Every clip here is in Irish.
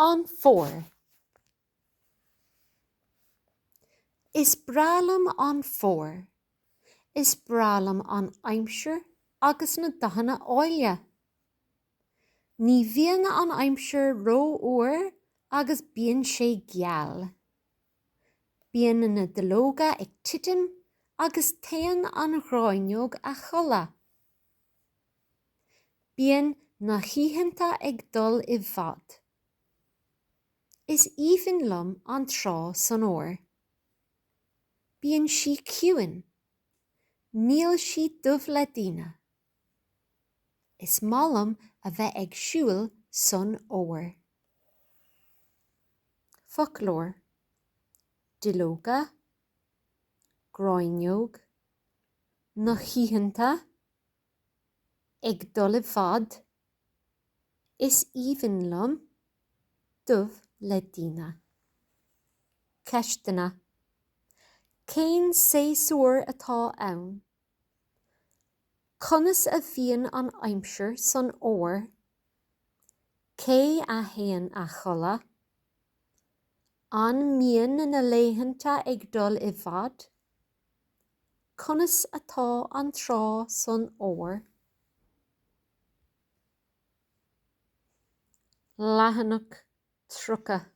An Fómhar. Is breá liom an fómhar. Is breá liom an aimsir agus na dathanna áille. Ní bhíonn an aimsir rófhuar agus bíonn sé geal. Bíonn na duilleoga ag titim agus téann an ghráinneog a chodladh. Bíonn na hoícheanta ag dul i bhfad. Is aoibhinn liom an trá san Fhómhar. Bíonn sí ciúin. Níl sí dubh le daoine. Is maith liom a bheith ag siúl san Fhómhar. Foclóir, duilleoga. Gráinneog na hoícheanta ag dul i bhfad Is aoibhinn liom dubh le daoine. Ceisteanna Cén séasúr atá ann? Conas a bhíonn an aimsir san fhómhar? Cé a théann a chodladh? An mbíonn na laethanta ag dul i bhfad? Conas atá an trá san Fhómhar? Leathanach 30,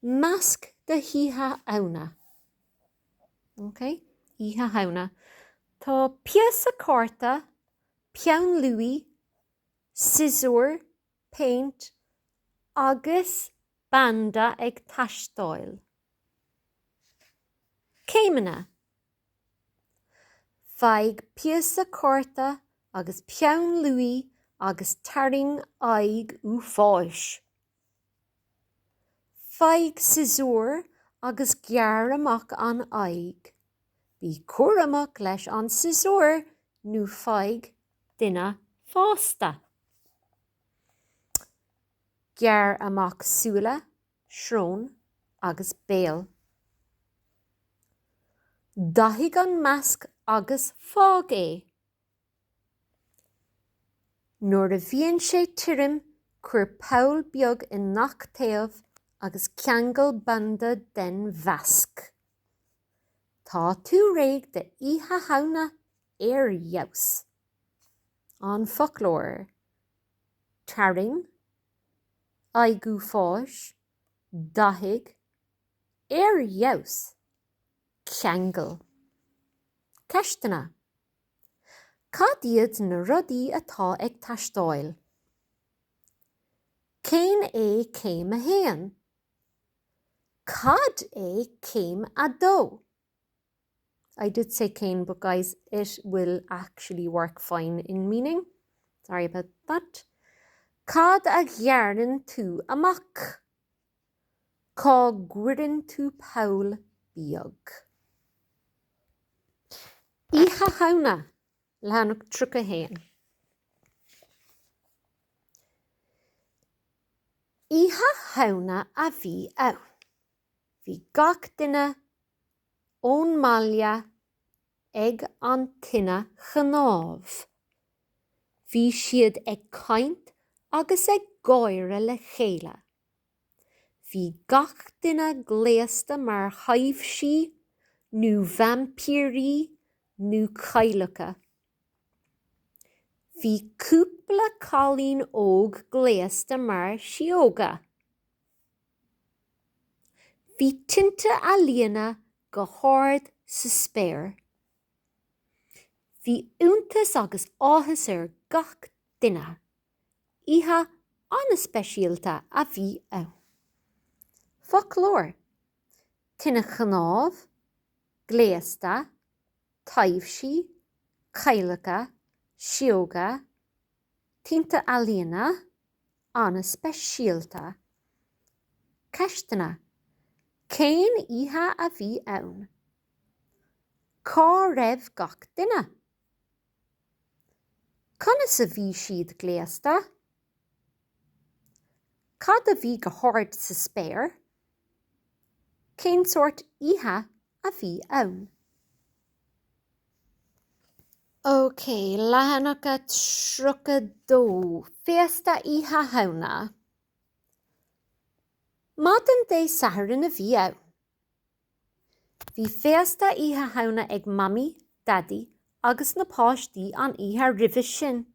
Masc d'Oíche Shamhna! OK, Oíche Shamhna. Tá píosa cárta, peann luaí, siosúr, péint agus banda ag teastáil. Céimeanna, Faigh píosa cárta agus peann luaí agus tarraing aghaidh uafáis. Faigh siosúr agus gearr amach an aghaidh. Bí cúramach leis an siosúr nó faigh duine fásta. Gearr amach súile, srón agus béal. Dathaigh an masc agus fág é. Nuair a bhíonn sé tirim cuir poll beag i ngach taobh agus ceangail banda den mhasc. Tá tú réidh d'Oíche Shamhna! ar fheabhas an foclóir tarraing aghaidh fós dathaigh ar fheabhas ceangail ceisteanna cad iad na rudaí atá ag teastáil? cén é céim a haon? cad é céim a dó? I did say cén but guys it will actually work fine in meaning, sorry about that Cad a ghearrann tú amach? Cá gcuireann tú poll beag? Oíche Shamhna, leathanach 31. Oíche Shamhna a bhí ann. Bhí gach duine ón mbaile ag an tine chnámh. Bhí siad ag caint agus ag gáire le chéile. Bhí gach duine gléasta mar thaibhsí nó vaimpírí nó cailleacha. Bhí cúpla cailín óg gléasta mar shióga. Bhí tinte ealaíne go hard sa spéir. Bhí iontas agus áthas ar gach duine. Oíche an-speisialta a bhí ann. Foclóir, Tine chnámh, gléasta, taibhsí, cailleacha, sióga, Tinte ealaíne, an-speisialta. Ceisteanna, Cén oíche a bhí ann? Cá raibh gach duine? Conas a bhí siad gléasta? Cad a bhí go hard sa spéir? Cén sórt oíche a bhí ann. OK, leathanach a 32, Féasta Oíche Shamhna. Maidin Dé Sathairn a bhí ann. Bhí féasta Oíche Shamhna ag Mamaí, Daidí agus na páistí an oíche roimhe sin.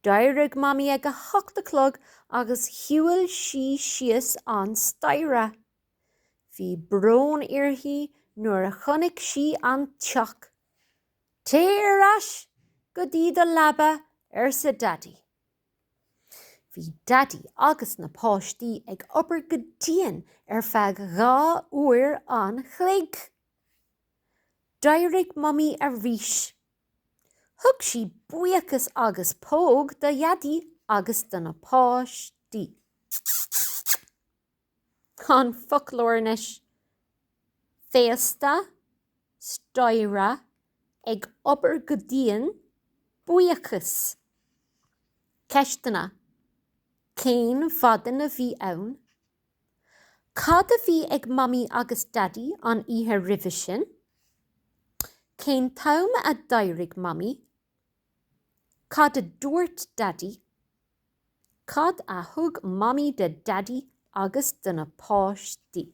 D'éirigh Mamaí ag a hocht a chlog agus shiúil sí síos an staighre. Bhí brón uirthi nuair a chonaic sí an teach. Téigh ar ais go dtí do leaba, arsa Daidí. Bhí Daidí agus na páistí ag obair go dian ar feadh dhá uair an chloig. D'éirigh Mamaí arís. Thug sí buíochas agus póg do Dhaidí agus do na páistí. An foclóir anois féasta, staighre, ag obair go dian, buíochas. Ceisteanna, Cén mhaidin a bhí ann? Cad a bhí ag Mamaí agus Daidí an oíche roimhe sin? Cén t-am a d'éirigh Mamaí? Cad a dúirt Daidí? Cad a thug Mamaí do Daidí agus do na páistí?